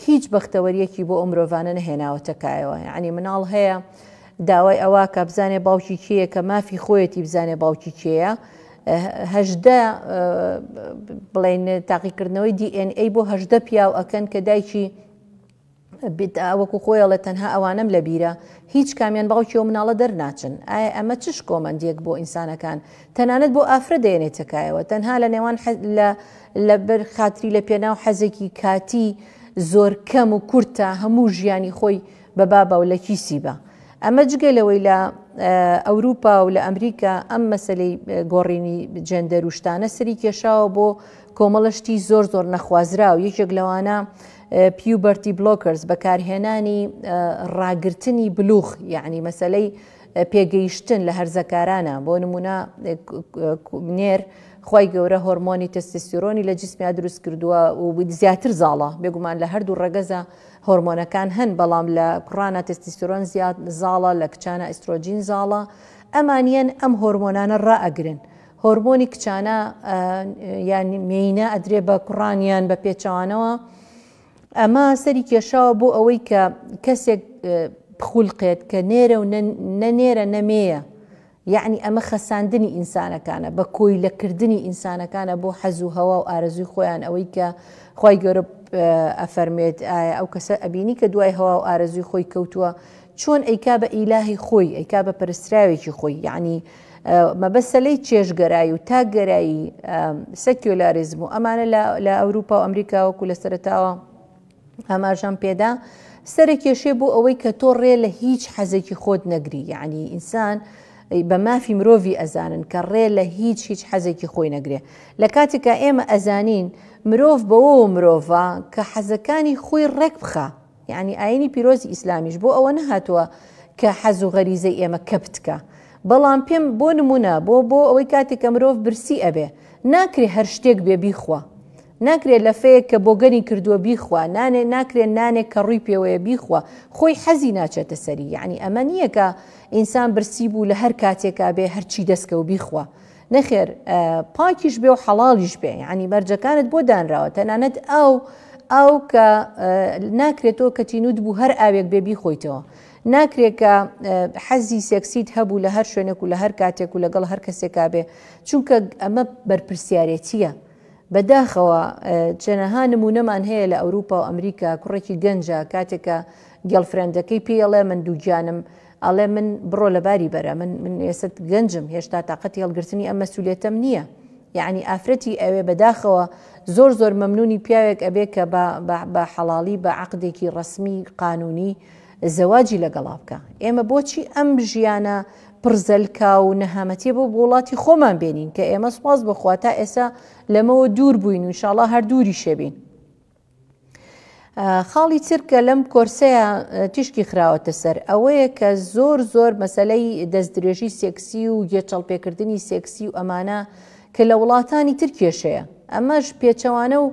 هیچ بەختەوەریەکی بۆ ئەو مرۆڤانە نەهێناوەتە کایەوە یعنی مناڵ هەیە داوای ئەواکا بزانێ باوکی کێیە کە مافی خۆیەتی بزانێ باوکی کێیە هەژدە بڵێن تاقیکردنەوەی DNA بۆ هەژدە پیاو ئەکەن کە دایکی وەکو خۆیڵە تەنها ئەوانم لە بیرە هیچ کامیان باوکی و مناڵە دەرناچن ئایا ئەمە چش کۆمەندێک بۆ ئینسانەکان تەنانەت بۆ ئافرە دێنێ تکایەوە تەنها لە نێوان لە بەر خاتری لە پێناو حەزێکی کاتی زۆر کەم و کورتە هەموو ژیانی خۆی بە بابە و لە کیسی بە. ئەمە جگە لەوەی لە ئەوروپا و لە ئەمریکا ئەم مەسەلەی گۆڕینی جێندەر و شتانە سەری کێشاوە بۆ کۆمەڵە شتی زۆر زۆر نەخوازراو یەکێک لەوانە پیوبەرتی بلۆکرز بەکارهێنانی ڕاگرتنی بلوغ یعنی مەسەلەی پێگەیشتن لە هەرزەکارانە بۆ نمونە نێر خی گەورە هۆرمۆنی تەستسیۆنی لە جسمیا دروست کردووە و زیاتر زاڵە بێگومان لە هەردوو ڕەگەزە هۆرمۆنەکان هەن بەڵام لە کوڕانە تستیستۆرۆن زیاد زاڵە لە کچانە ئیسترۆجین زاڵە ئەمانیەن ئەم هۆرمۆنانە ڕا ئەگرن هۆرمۆنی کچانە یان مێینە ئەدرێ بە کوڕانیان بە پێچوانەوە ئەمە سەری کێشاوە بۆ ئەوەی کە کەسێک بخولقێت کە نێرە و نەنێرە نەمێیە یەعنی ئەمە خەساندنی ئینسانەکانە، بە کۆیلە کردنی ئینسانەکانە بۆ حەز و هەوا و ئارەزووی خۆیان ئەوەی کە خوای گەورە ئەفەرموێت ئایا ئەو کەسە ئەبینی کە دوای هەوا و ئارەزووی خۆی کەوتووە چۆن ئەیکا بە ئیلاهی خۆی ئەیکا بە پەرستراوێکی خۆی یەعنی مەبەستە لەی چێژگەرایی و تاک گەرایی سەکیۆلاریزم و ئەمانە لە ئەوروپا و ئەمریکا وەکو لە سەرەتاوە ئاماژەم پێدا سەرە کێشێ بۆ ئەوەی کە تۆ ڕێ لە هیچ حەزێکی خۆت نەگری یعنی ئینسان بە مافی مرۆڤی ئەزانن کە ڕێ لە هیچ هیچ حەزێکی خۆی نەگرێ لە کاتێکا ئێمە ئەزانین مرۆڤ بەوە مرۆڤە کە حەزەکانی خۆی ڕێک بخە یعنی ئاینی پیرۆزی ئیسلامیش بۆ ئەوە نەهاتووە کە حەز و غەریزەی ئێمە کەپتکە بەڵام پێم بۆ نمونە بۆ بۆ ئەوەی کاتێکە مرۆڤ برسی ئەبێ ناکرێ هەر شتێک بێ بیخوا ناکرێ لەفەیەک کە بۆگەنی کردووە بیخوا، نانێ ناکرێ نانێک کە ڕووی پێوەیە بیخوا، خۆی حەزی ناچێتە سەری، یەعنی ئەمە نییە کە ئینسان برسی بوو لە هەر کاتێکا بێ هەرچی دەست کەوت بیخوا، نەخێر پاکیش بێ و حەڵاڵیش بێ، یەعنی مەرجەکانت بۆ دانراوە، تەنانەت ئاو ئاو کە ناکرێ تۆ کە تینووت بوو هەر ئاوێک بێ بیخۆیتەوە، ناکرێ کە حەزی سێکسیت هەبوو لە هەر شوێنێک و لە هەر کاتێک و لەگەڵ هەر کەسێکا بێ، چونکە ئەمە بەرپرسیارێتییە. بە داخەوە چەنەها نموونەمان هەیە لە ئەوروپا و ئەمریکا کوڕێکی گەنجە کاتێک کە گێڵفرێندەکەی پێی ئەڵێ من دووگیانم ئەڵێ من بڕۆ لە باری بەرە من من ئێستا گەنجم هێشتا تااقەتی هەڵگرتنی ئەم مەسوولێتەم نییە یعنی ئافرەتی ئەوێ بەداخەوە زۆر زۆر مەمنونی پیاوێک ئەبێ کە بە حەڵاڵی بە عقدێکی ڕسمی قانونی زەواجی لەگەڵا بکە ئێمە بۆچی ئەم ژیانە پڕزەلکا و نەهامەتیە بۆ وڵاتی خۆمان بێنین کە ئێمە سپاس بخوا تا ئێسا لەمەوە دوور بووین و شاڵا هەر دووری شەبین خاڵی چرکە لەم کۆرسەیە تیشکی خراوەتە سەر ئەوەیە کە زۆر زۆر مەسلەی دەستدرێژی سێکسی و گێچەڵپێکردنی سێکسی و ئەمانە کە لە وڵاتانی تر کێشەیە ئەمەش پێچەوانە و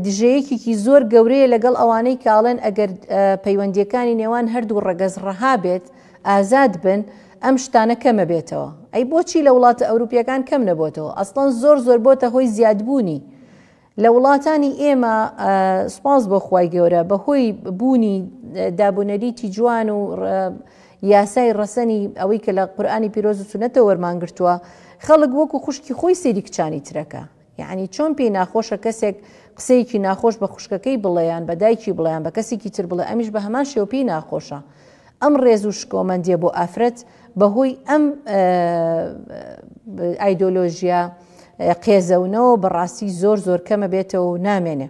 دژەیەکێکی زۆر گەورەیە لەگەڵ ئەوانەی کاڵێن ئەگەر پەیوەندیەکانی نێوان هەردوو ڕەگەز ڕەها بێت ئازاد بن ئەم شتانە کەمە بێتەوە ئەی بۆچی لە وڵاتە ئەوروپیەکان کەم نەبۆتەوە ئەسڵەن زۆر زۆر بۆتە هۆی زیادبوونی لە وڵاتانی ئێمە سپاس بۆ خی گەورە بە هۆی بوونی دابونەریتی جوان و یاسای ڕەسەنی ئەوەی کە لە قورآانی پیرۆز و سونەتە وەرمانگرتووە خەڵک وەکو خوشکی خۆی سری کچانی ترەکە یەعنی چۆن پێی ناخۆشە کەسێک قسەیەکی ناخۆش بە خوشکەکەی بڵێ یان بە دایکی بڵێ یان بە کەسێکی تر بڵێ ئەمیش بە هەمان شێوە پێی ناخۆشە ئەم ڕێز و شکۆمەندیە بۆ ئافرەت بەهۆی ئەم ئایدۆلۆژیا قێزەونەوە بەڕاستی زۆر زۆر کەمە بێتەوە و نامێنێ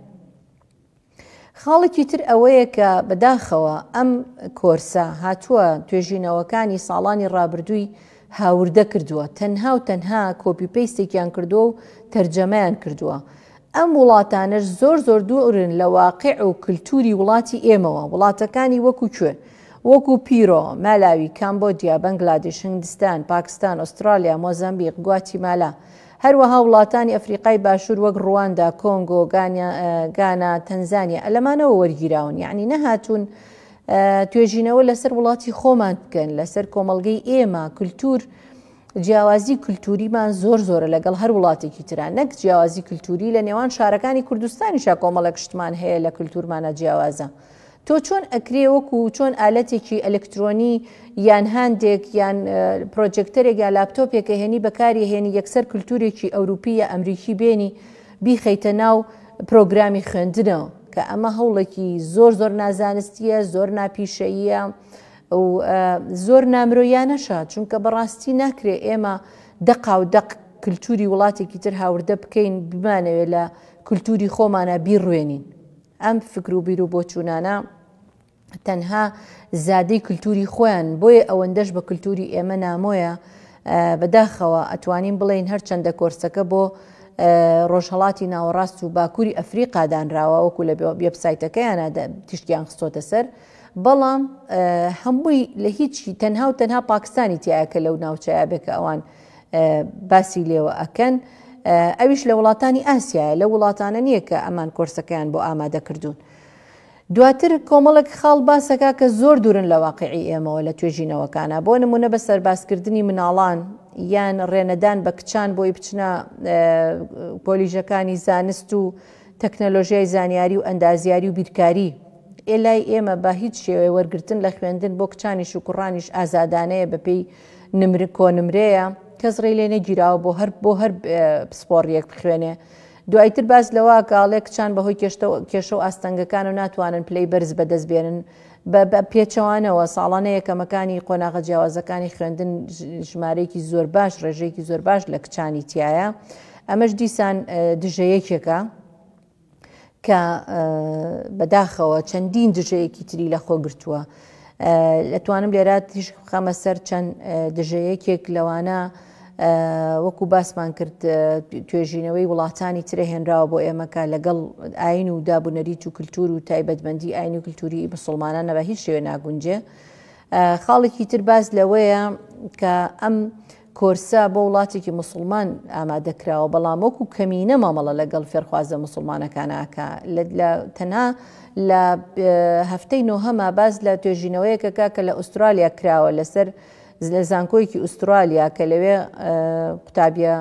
خاڵێکی تر ئەوەیە کە بەداخەوە ئەم کۆرسە هاتووە توێژینەوەکانی ساڵانی ڕابردووی هاوردە کردووە تەنها و تەنها کۆپی پێستێکیان کردووە و تەرجەمەیان کردووە ئەم وڵاتانەش زۆر زۆر دوورن لە واقع و کللتوری وڵاتی ئێمەوە وڵاتەکانی وەکو کوێ وەکو پیرۆ مالاوی کامبۆدیا بەنگلادش هندستان پاکستان ئوسترالیا مۆزمبیق گواتیمالا هەروەها وڵاتانی ئەفریقای باشوور وەک ڕواندا، کۆنگۆ، گانا، تەنزانیا ە لەمانەوە وەرگیراون، یەعنی نەهاتوون توێژینەوە لەسەر وڵاتی خۆمان بکەن، لەسەر کۆمەڵگەی ئێمە، کولتوور، جیاوازی کولتووریمان زۆر زۆرە لەگەڵ هەر وڵاتێکی ترا، نەک جیاوازی کولتووری لە نێوان شارەکانی کوردستانیشا کۆمەڵێک شتمان هەیە لە کولتوورمانا جیاوازە، تۆ چۆن ئەکرێ وەکو چۆن ئالەتێکی ئەلکترۆنی یان هاندێک یان پرۆجێکتەرێک یا لاپتۆپێک ئەهێنی بەکاری هێنی یەکسەر کلتورێکی ئەوروپی یا ئەمریکی بێنی بیخەیتە ناو پرۆگرامی خوێندنەوە کە ئەمە هەوڵێکی زۆر زۆر نازانستیە زۆر ناپیشەییە و زۆر نامرۆیانەشە چونکە بەڕاستی ناکرێ ئێمە دەقا و دەق کللتوری وڵاتێکی تر هاوردە بکەین بمانەوێت لە کللتوری خۆمانە بیڕوێنین ئەم فکر و بیرو بۆچوونانە تەنها زادەی کلتوری خۆیان بۆیە ئەوەندەش بە کلتوری ئێمە نامۆیە بەداخەوە ئەتوانین بڵێین هەرچەندە کۆرسەکە بۆ ڕۆژهڵاتی ناوەڕاست و باکووری ئەفریقا دانراوە وەکو لە وبسایتەکەیانە تیشکیان خستۆتە سەر بەڵام هەمووی لە هیچی تەنها و تەنها پاکستانی تایە کە لەو ناوچەیە بێکە ئەوان باسی لێوە ئەکەن ئەویش لە وڵاتانی ئاسیایە لە وڵاتانە نییە کە ئەمان کۆرسەکەیان بۆ ئامادە کردوون. دواتر کۆمەڵک خاڵ باسەکە کە زۆر دوورن لە واقعی ئێمەوە لە توێژینەوەکانە بۆ نمونە بە سەربازکردنی مناڵان یان ڕێنەدان بە کچان بۆی بچنە کۆلیژەکانی زانست و تەکنەلۆژیای زانیاری و ئەندازیاری و بیرکاری ئێلای ئێمە بە هیچ شێوەیە وەرگتن لە خوێندن بۆ کچانیش و کوڕانیش ئازادانەیە بەپێی نمرە کۆنمرەیە کەس ڕێی لێ نەگیراوە بۆ هەر بۆ هەر پسپۆڕیەک بخوێنێ دوایتر باس لەوە گاڵێ کچان بەهۆی کێشە و ئاستەنگەکان و ناتوانن پلەی بەرز بەدەست بێنن بە پێچەوانەوە ساڵانە یەکەمەکانی قۆناغە جیاوازەکانی خوێندن ژمارەیەکی زۆر باش ڕێژەیەکی زۆر باش لە کچانی تایە ئەمەش دیسان دژەیەکێکە کە بەداخەوە چەندین دژەیەکی تری لە خۆ گرتووە لەتوانم لێرا تیش خەمە سەر چەند دژەیەکێک لەوانە وەکو باسمان کرد توێژینەوەی وڵاتانی ترە هێنراوە بۆ ئێمەکە لەگەڵ ئاین و دابوونەریت و کللتور و تایبەتمەندی ئاین و کللتوری مسلمانان نەبە هیچ شوێ ناگونجێ خاڵێکی تر باز لەوەیە کە ئەم کۆرسە بۆ وڵاتێکی موسڵمان ئامادە کراوە بەڵام وەکو کەمینە مامەڵە لەگەڵ فێرخوازە موسڵمانەکان ئاکا تەنها لە هەفتەی نۆهەما باس لە توێژینەوەیەکەکە کە لە ئوسترالیا کراوە لەسەر لە زانکۆیەکی ئوسترالیا کە لەوێ قوتابیە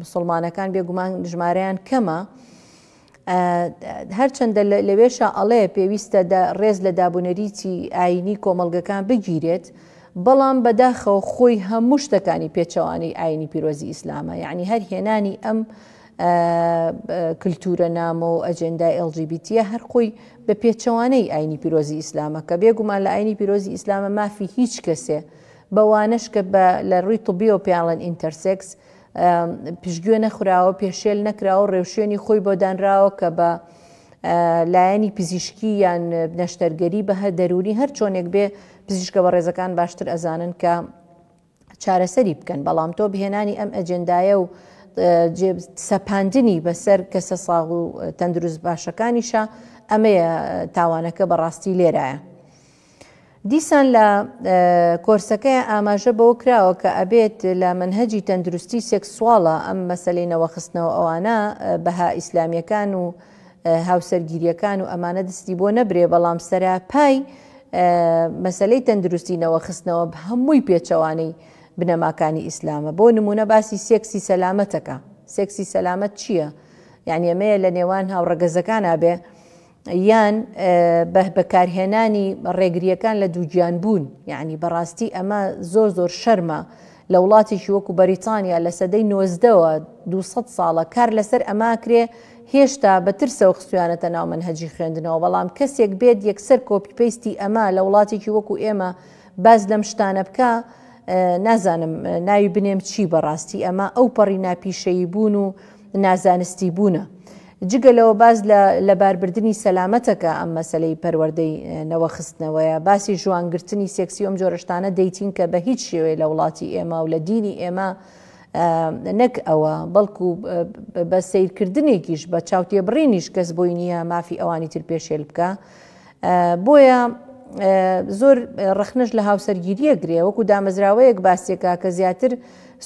مسلمانەکان بێگومان ژمارەیان کەمە هەرچەندە لەوێشا ئەڵێ پێویستە ڕێز لە دابونەریتی ئایینی کۆمەڵگەکان بگیرێت، بەڵام بەداخەوە خۆی هەموو شتەکانی پێچەوانەی ئایینی پیرۆزی ئیسلامە، یەعنی هەر هێنانی ئەم کلتورە نامۆ و ئەجێندای ئێڵ جی بی تییە هەر خۆی بە پێچەوانەی ئایینی پیرۆزی ئیسلامە کە بێگومان لە ئایینی پیرۆزی ئیسلامە مافی هیچ کەسێ بەوانەش کە لە ڕووی طبییەوە پێیان ئڵێن ئینتەرسێکس پشتگوێ نەخراوە، پێشێل نەکراوە، ڕێوشوێنی خۆی بۆ دانراوە کە بە لایەنی پزیشکی یان نەشتەرگەری بە هەر دەروونی هەر چۆنێک بێ پزیشکە بە ڕێزەکان باشتر ئەزانن کە چارەسەری بکەن بەڵام تۆ بهێنانی ئەم ئەجندایە و سەپاندنی بەسەر کەسە ساغ و تەندروست باشەکانیشە ئەمەیە تاوانەکە بەڕاستی لێرایە. دیسان لە کۆرسەکەیا ئاماژە بەوە کراوە کە ئەبێت لە مەنهەجی تەندروستی سێکسواڵە ئەم مەسەلەی نەوەخستنەوە ئەوانە بەها ئیسلامیەکان و هاوسەرگیریەکان و ئەمانە دستی بۆ نەبرێ بەڵام سەراپای مەسەلەی تەندروستی نەوەخستنەوە هەمووی پێچەوانەی بنەماکانی ئیسلامە بۆ نمونە باسی سێکسی سەلامەتەکە سێکسی سەلامەت چییە؟ یعنی ئەمەیە لە نێوان هاوڕەگەزەکانا بێ یان بە بەکارهێنانی ڕێگرییەکان لە دووگیان بوون، یەعنی بەڕاستی ئەمە زۆر زۆر شەرمە لە وڵاتێکی وەکو بەریتانیا لە سەدەی نۆزدەوە دوو سەد ساڵە کار لەسەر ئەمە ئەکرێ هێشتا بە ترسەوە خستویانەتە ناو مەنهەجی خوێندنەوە بەڵام کەسێک بێت یەکسەر کۆپی پەیستی ئەمە لە وڵاتێکی وەکو ئێمە باس لەم شتانە بکە نازانم ناوی بنێم چی بەڕاستی ئەمە ئەو پەڕی ناپیشەیی بوون و نازانستی بوونە. جگە لەوە باس لە لەباربردنی سەلامەتە کە ئەم مەسەلەی پەروەردەی نەوە خستنەوەیە. باسی ژوانگرتنی سێکسی و ئەم جۆرە شتانە دەیتین کە بە هیچ شێوەیە لە وڵاتی ئێمە و لە دینی ئێمە نەک ئەوە بەڵکو بە سەیرکردنێکیش بە چاوتێبڕینیش کەس بۆی نییە مافی ئەوانی تر پێشێل بکا. بۆیە زۆر ڕەخنەش لە هاوسەرگیریە گرێ وەکو دامەزراوەیەک باسیەکە کە زیاتر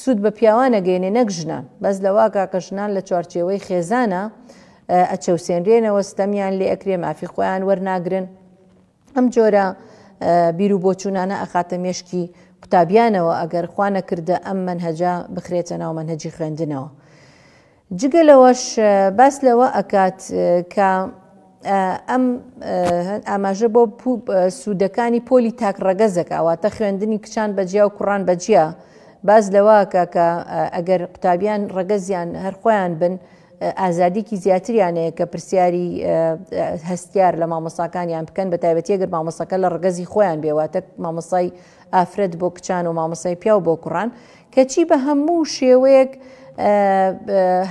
سوود بە پیاوانە گەێنێ نەک ژنان بەس لەواکە کە ژنان لە چوارچێوەی خێزانە ئەچەوسێنرێنەوە ستەمیان لێ ئەکرێ مافی خۆیان وەرناگرن ئەم جۆرە بیر و بۆچوونانە ئەخاتە مێشکی قوتابیانەوە ئەگەر خوا نەکردە ئەم منهجە بخرێتە ناو منهجی خوێندنەوە. جگە لەوەش باس لەوە ئەکات کە ئەم ئاماژە بۆ سوودەکانی پۆلی تاک ڕەگەزەکە واتە خوێندنی کچان بەجیا و کوڕان بەجیا باز لەواکە کە ئەگەر قوتابیان ڕەگەزیان هەرخۆیان بن ئازادیکی زیاتریانەیە کە پرسیاری هەستیار لە مامۆساکانیان بکەن بە تایبەتی گەر مامۆسەکە لە ڕگەزی خۆیان بێواتە مامۆسای ئافرەت بۆ کچان و مامۆسای پیاو بۆ کوڕان کەچی بە هەموو شێوەیەک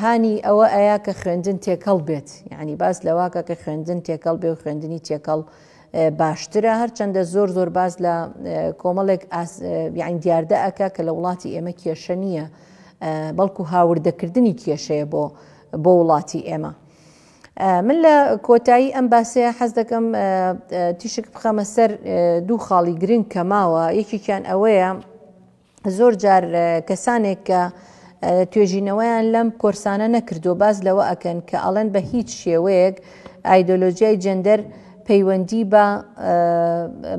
هانی ئەوە ئەیا کە خوێندن تێکەڵ بێت یعنی باس لەواکە کە خوێندن تێکەڵ بێ و خوێندنی تێکەڵ باشترە هەرچەندە زۆر زۆر باز لە کۆمەڵێک یاین دیاردە ئەکە کە لە وڵاتی ئێمە کێشە نییە بەڵکو هاوردەکردنی کێشەیە بۆ بۆ وڵاتی ئێمە. من لە کۆتایی ئەم باسەیە حەز دەکەم تیشک بخەمە سەر دوو خاڵی گرنگ کە ماوە یەکێکیان ئەوەیە زۆر جار کەسانێک کە توێژینەوەیان لەم کۆرسانە نەکردو باس لەوە ئەکەن کە ئەڵێن بە هیچ شێوەیەک ئایدۆلۆژیای جەندەر پەیوەندی بە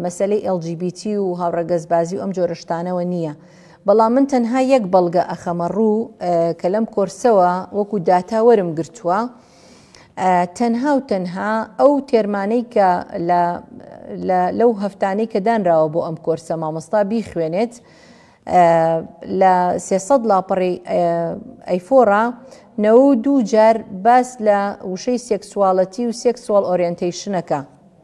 مەسلەی LGBT و هاوڕەگەزبازی و ئەم جۆرەشتانەوە نییە. بەڵام من تەنها یەک بەڵگە ئەخەمە ڕوو کە لەم کۆرسەوە وەکو داتا وەرم گرتووە، تەنها و تەنها ئەو تێرمانەی کە لەو هەفتانەی کە دانراوە بۆ ئەم کۆرسە مامۆستا بیخوێنێت لە سێسەد لاپەڕی ئەیفۆڕا نەوە دوو جار باس لە وشەی سێکسواڵەتی و سێکسوال ئۆریەنتەیشنەکە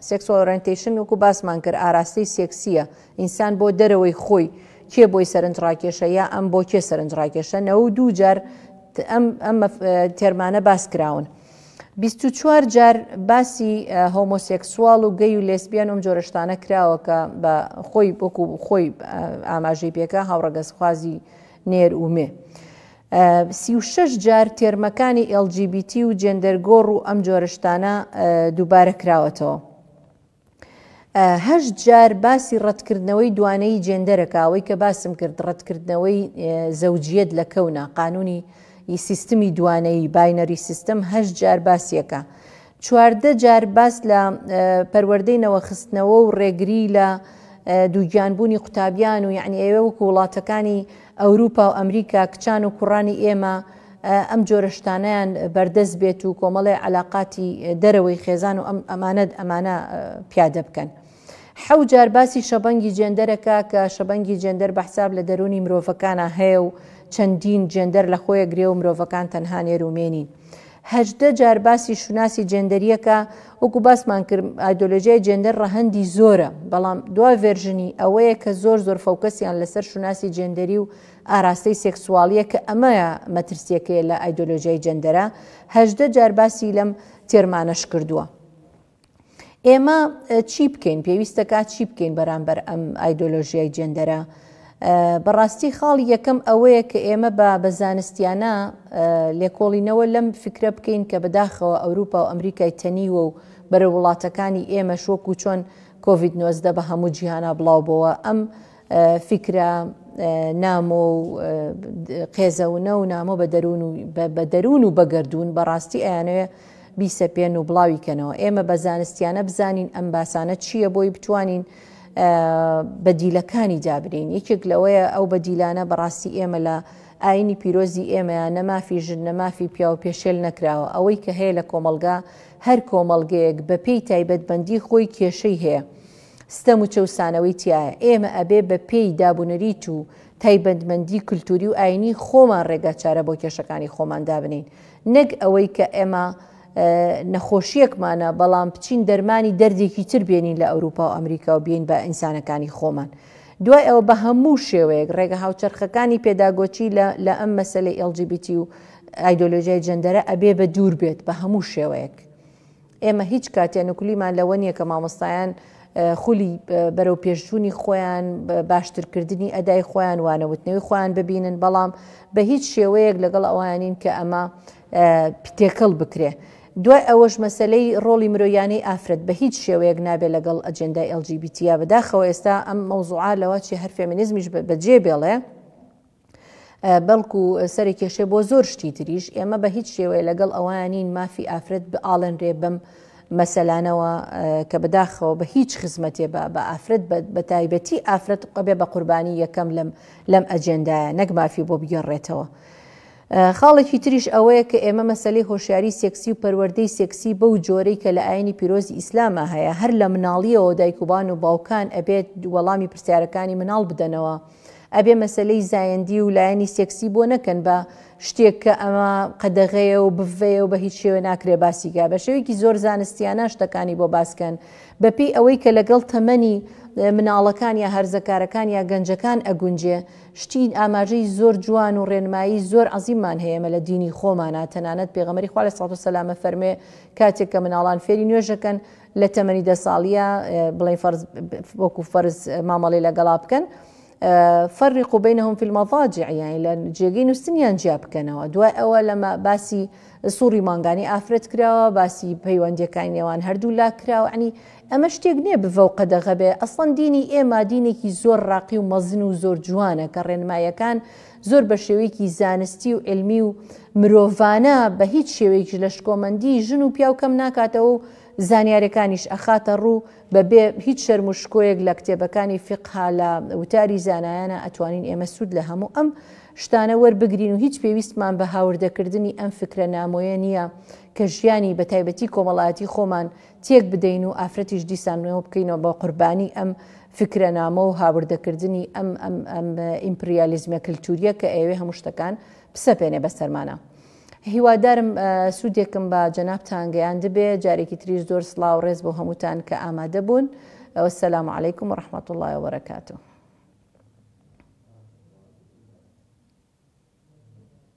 سێکسۆرنتیشن وکو باسمان کرد ئاراستەی سێکسیە ئینسان بۆ دەرەوەی خۆی کێ بۆی سەرنج ڕاکێشە یا ئەم بۆ کێ سەرنج ڕاکێشە نەوە و دوو جار ئەم تێرمانە باس کراون. 24 جار باسی هۆمۆسێکسوال و گەی و لێسبیان ئەم جۆرەشتانە کراوە کە بە خۆی بۆکو خۆی ئاماژەی پێکە هاوڕەگەزخوازی نێر و مێ. سیشش جار تێرمەکانی LGBT و جێندەرگۆڕ و ئەم جۆرەشتانە دووبارە کراوەتەوە. هەشت جار باسی ڕەتکردنەوەی دوانەیی جێندەرەکە، ئەوەی کە باسم کرد ڕەتکردنەوەی زەوجیەت لە کەونە، قانوونی ی سیستمی دوانەیی، Binary System، هەشت جار باسیەکا. چواردە جار باس لە پەروەردەی نەوەخستنەوە و ڕێگریی لە دووگیانبوونی قوتابیان و یەعنی ئێوە وەکوو وڵاتەکانی ئەوروپا و ئەمریکا کچان و کوڕانی ئێمە ئەم جۆرە شتانەیان بەردەست بێت و کۆمەڵێ عەلاقاتی دەرەوەی خێزان و ئەم ئەمانە ئەمانە پیادە بکەن. حەو جار باسی شەبەنگی جێندەرە کا کە شەبەنگی جێندەر بەحساب لە دەروونی مرۆڤەکانا هەیە و چەندین جێندەر لە خۆیە گرێ و مرۆڤەکان تەنها نێر و مێ نین. هەژدە جار باسی شوناسی جێندەرییەکە، وەکو باسمان کرد ئایدۆلۆژیای جێندەر ڕەهەندی زۆرە، بەڵام دوا ڤێرژنی ئەوەیە کە زۆر زۆر فۆکەسیان لەسەر شوناسی جێندەری و ئاراستەی سێکسواڵییە کە ئەمەیە مەترسییەکەی لە ئایدۆلۆژیای جێندەرە، هەژدە جار باسی لەم تێرمانەش کردووە. ئێمە چی بکەین پێویستە کا چی بکەین بەرامبەر ئەم ئایدۆلۆژیای جێندەرە بەڕاستی خاڵی یەکەم ئەوەیە کە ئێمە بە بە زانستیانە لێکۆڵینەوە لەم فکرە بکەین کە بەداخەوە ئەوروپا و ئەمریکای تەنیوە و بەرە وڵاتەکانی ئێمە شۆک و چۆن کۆVید-19 بە هەموو جیهانا بڵاوبەوە ئەم فیکرە نامۆ و قێزەونە و نامۆ بە دەروون و بە دەروون و بەگەردوون بەڕاستی ئەیانەوێ بیسەپێن و بڵاوی کەنەوە ئێمە بە زانستیانە بزانین ئەم باسانە چییە بۆی بتوانین بەدیلەکانی دابنین یەکێک لەوەیە ئەو بەدیلانە بەڕاستی ئێمە لە ئاینی پیرۆزی ئێمەیە نەمافی ژن نەمافی پیاو پێشێل نەکراوە ئەوەی کە هەیە لە کۆمەلگا هەر کۆمەلگەیەک بەپێی تایبەتبندی خۆی کێشەی هەیە. ستەم و چەوسانەوەی تیایە، ئێمە ئەبێ بە پێی داب و نەریت و تایبەندمەندی کلتوری و ئاینی خۆمان ڕێگاچارە بۆ کێشەکانی خۆمان دابنێین نەک ئەوەی کە ئێمە نەخۆشیەکمانە بەڵام بچین دەرمانی دەردێکی تر بێنین لە ئەوروپا و ئەمریکا و بین بە ئینسانەکانی خۆمان دوای ئەوە بە هەموو شێوەیەک ڕێگە هاوچەرخەکانی پێداگۆچی لە ئەم مەسلەی LGBTی و ئایدۆلۆژیای جەندەرە ئەبێ بە دوور بێت بە هەموو شێوەیەک ئێمە هیچ کاتێ نکولیمان لەوە نیە کە مامۆستایان خولی بەرەوپێشچوونی خۆیان باشترکردنی ئەدای خۆیان وانەوتنەوەی خۆیان ببینن بەڵام بە هیچ شێوەیەک لەگەڵ ئەوانین کە ئەمە تێکەڵ بکرێ. دوای ئەوەش مەسەلەی ڕۆڵی مرۆیانەی ئافرەت بە هیچ شێوەیەک نابێ لەگەڵ ئەجێندای LGBTیا بەداخەوە ئێستا ئەم مەوزوعا لەوە چی هەر فێمینیزمیش بەجێ بێڵێ، بەڵکو سەرە کێشێ بۆ زۆر شتی تریش ئێمە بە هیچ شێوەیە لەگەڵ ئەوانین مافی ئافرەت بئاڵێنرێ بەم مەسەلانەوە کە بەداخەوە بە هیچ خزمەتێ بە بە ئافرەت بە تایبەتی ئافرەت قەبێ بە قوربانی یەکەم لەم لەم ئەجێندایە نەک مافی بۆ بگەڕێتەوە. خاڵێکی تریش ئەوەیە کە ئێمە مەسلەی هۆشیاری سێکسی و پەروەردەی سێکسی بەو جۆرەی کە لە ئاینی پیرۆزی ئیسلامە هەیە هەر لە مناڵیەوە دایکوبان و باوکان ئەبێت وەڵامی پرسیارەکانی مناڵ بدەنەوە ئەبێ مەسەلەی زایەندی و لایەنی سێکسی بۆ نەکەن بە شتێک کە ئەمە قەدەغەیە و بڤەیە و بە هیچ شێوێ ناکرێ باسیکە بە شێوەیەکی زۆر زانستیانە شتەکانی بۆ باسکەن بەپێی ئەوەی کە لەگەڵ تەمەنی مناڵەکان یا هەرزەکارەکان یا گەنجەکان ئەگونجێ شتین ئاماژەی زۆر جوان و ڕێنمایی زۆر عزیمان هەیەمە لە دینی خۆمانە تەنانەت پێغەمەری خوا لە ساڵ و سەلامە فەرمێ کاتێک کە مناڵان فێری نوێژەکەن لە تەمەنی دە ساڵیە بڵێن فەرز وەکو فەرز مامەڵی لەگەڵا بکەن فەرق بینهم فی المضاجع یعنی لە جێگەی نووسنیان جیا بکەنەوە دوای ئەوە لەمە باسی سوڕی مانگانی ئافرەت کراوە باسی پەیوەندیەکانی نێوان هەردوو لا کراوە عنی ئەمە شتێک نییە بڤەو قەدەغەبێ ئەسڵەن دینی ئێمە دینێکی زۆر ڕاقی و مەزن و زۆر جوانە کە ڕێنمایەکان زۆر بە شێوەیەکی زانستی و عیلمی و مرۆڤانە بە هیچ شێوەیەکیش لە شکۆمەندی ژن و پیاو کەم ناکاتەوە و زانیارەکانیش ئەخاتە ڕوو بە بێ هیچ شەرم و شکۆیەک لە کتێبەکانی فیقها لە وتاری زانایانە ئەتوانین ئێمە سوود لە هەموو ئەم شتانە وەربگرین و هیچ پێویستمان بە هاوردەکردنی ئەم فکرە نامۆیە نییە کە ژیانی بە تایبەتی کۆمەڵایەتی خۆمان تێک بدەین و ئافرەتیش دیسان نوێ بکەینەوە بە قوربانی ئەم فیکرەنامە و هاوردەکردنی ئەم ئەم ئیمپریالیزمە کلتوریە کە ئەیەوێ هەموو شتەکان بسەپێنێ بەسەرمانە. هیوادارم سوودێکم بە جەنابتان گەیاندبێ جارێکی تریش زۆر سڵاو ڕێز بۆ هەمووتان کە ئامادە بوون وەسەلام علیکم و ڕحمەت الله وبرکاته